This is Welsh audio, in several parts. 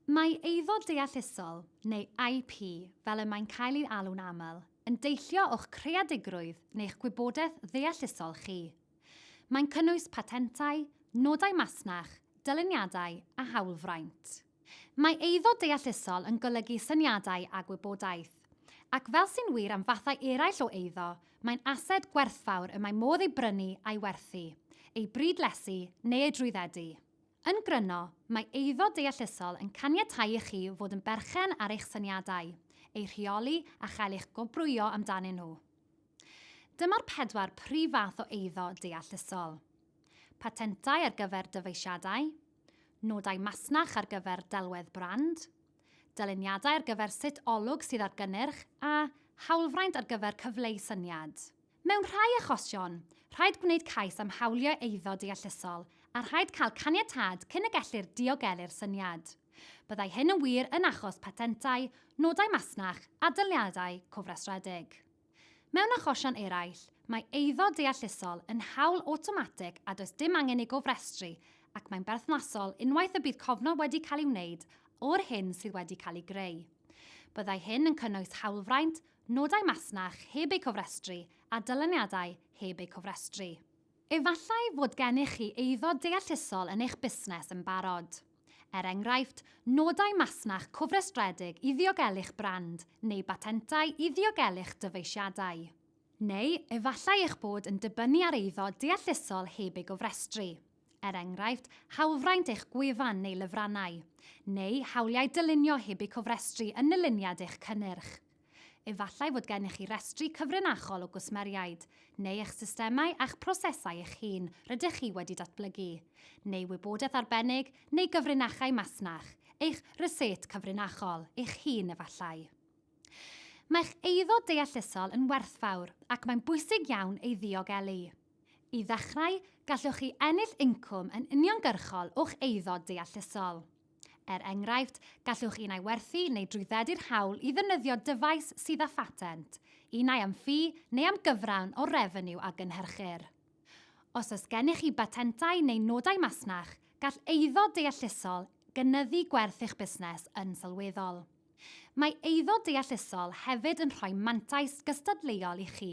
Mae Eiddo Deallusol, neu IP fel y mae'n cael ei alw'n aml, yn deillio o'ch creadigrwydd neu'ch gwybodaeth ddeallusol chi. Mae'n cynnwys patentau, nodau masnach, dyluniadau a hawlfraint. Mae eiddo deallusol yn golygu syniadau a gwybodaeth. Ac fel sy'n wir am fathau eraill o eiddo, mae'n ased gwerthfawr y mae modd ei brynu a'i werthu, ei brydlesu neu ei drwyddedu. Yn gryno, mae eiddo deallusol yn caniatáu i chi fod yn berchen ar eich syniadau, eu rheoli a chael eich gwobrwyo amdanyn nhw. Dyma'r pedwar prif fath o eiddo deallusol. Patentau ar gyfer dyfeisiadau, nodau masnach ar gyfer delwedd brand, dyluniadau ar gyfer sut olwg sydd ar gynnyrch a hawlfraint ar gyfer cyfleu syniad. Mewn rhai achosion, rhaid gwneud cais am hawliau eiddo deallusol a rhaid cael caniatâd cyn y gellir diogelu'r syniad. Byddai hyn yn wir yn achos patentau, nodau masnach, a daliadau cofrestredig. Mewn achosion eraill, mae eiddo deallusol yn hawl awtomatig a does dim angen ei gofrestru ac mae'n berthnasol unwaith y bydd cofnod wedi cael ei wneud o'r hyn sydd wedi cael ei greu. Byddai hyn yn cynnwys hawlfraint, nodau masnach heb eu cofrestru a dyluniadau heb eu cofrestru. Efallai fod gennych chi eiddo deallusol yn eich busnes yn barod, er enghraifft, nodau masnach cofrestredig i ddiogelu'ch brand neu batentau i ddiogelu'ch dyfeisiadau. Neu efallai eich bod yn dibynnu ar eiddo deallusol heb ei gofrestru. er enghraifft, hawlfraint eich gwefan neu lyfrannau, neu hawliau dylunio heb eu cofrestru yn nyluniad eich cynnyrch. Efallai fod gennych chi restri cyfrinachol o gwsmeriaid, neu eich systemau a'ch prosesau eich hun rydych chi wedi datblygu, neu wybodaeth arbennig neu gyfrinachau masnach, eich rysét cyfrinachol eich hun efallai. Mae'ch eiddo deallusol yn werthfawr ac mae'n bwysig iawn ei ddiogelu. I ddechrau, gallwch chi ennill incwm yn uniongyrchol o'ch eiddo deallusol. Er enghraifft, gallwch un ai werthu neu drwyddedu'r hawl i ddefnyddio dyfais sydd â phatent, un ai am ffi neu am gyfran o'r refeniw a gynhyrchir. Os oes gennych chi batentau neu nodau masnach, gall eiddo deallusol gynyddu gwerth eich busnes yn sylweddol. Mae eiddo deallusol hefyd yn rhoi mantais gystadleuol i chi,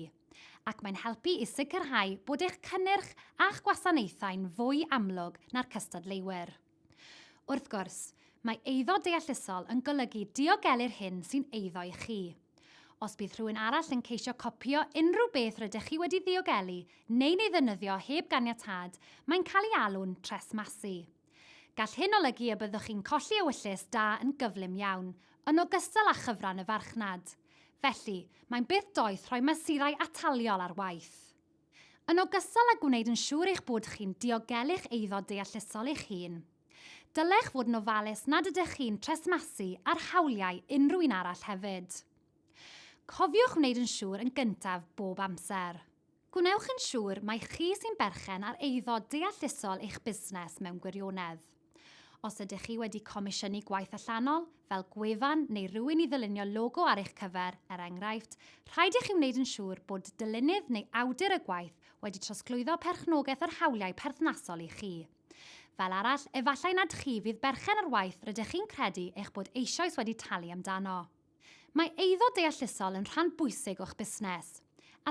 ac mae'n helpu i sicrhau bod eich cynnyrch a'ch gwasanaethau'n fwy amlwg na'r cystadleuwyr. Wrth gwrs, mae eiddo deallusol yn golygu diogelu'r hyn sy'n eiddo i chi. Os bydd rhywun arall yn ceisio copïo unrhyw beth rydych chi wedi ddiogelu neu'n ei ddefnyddio heb ganiatâd, mae'n cael ei alw'n tresmasu. Gall hyn olygu y byddwch chi'n colli ewyllys da yn gyflym iawn, yn ogystal â chyfran y farchnad. Felly, mae'n beth doeth rhoi mesurau ataliol ar waith. Yn ogystal â gwneud yn siŵr eich bod chi'n diogelu'ch eiddo deallusol eich hun, dylech fod yn ofalus nad ydych chi'n tresmasu ar hawliau unrhyw un arall hefyd. Cofiwch wneud yn siŵr yn gyntaf bob amser. Gwnewch yn siŵr mai chi sy'n berchen ar eiddo deallusol eich busnes mewn gwirionedd. Os ydych chi wedi comisiynu gwaith allanol, fel gwefan neu rywun i ddylunio logo ar eich cyfer, er enghraifft, rhaid i chi wneud yn siŵr bod dylunydd neu awdur y gwaith wedi trosglwyddo perchnogaeth yr hawliau perthnasol i chi. Fel arall, efallai nad chi fydd berchen ar waith rydych chi'n credu eich bod eisoes wedi talu amdano. Mae eiddo deallusol yn rhan bwysig o'ch busnes.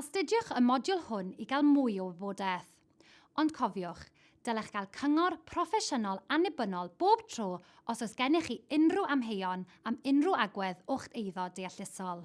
Astudiwch y modiwl hwn i gael mwy o wybodaeth. Ond cofiwch, dylech gael cyngor proffesiynol annibynnol bob tro os oes gennych chi unrhyw amheuon am unrhyw agwedd o'ch eiddo deallusol.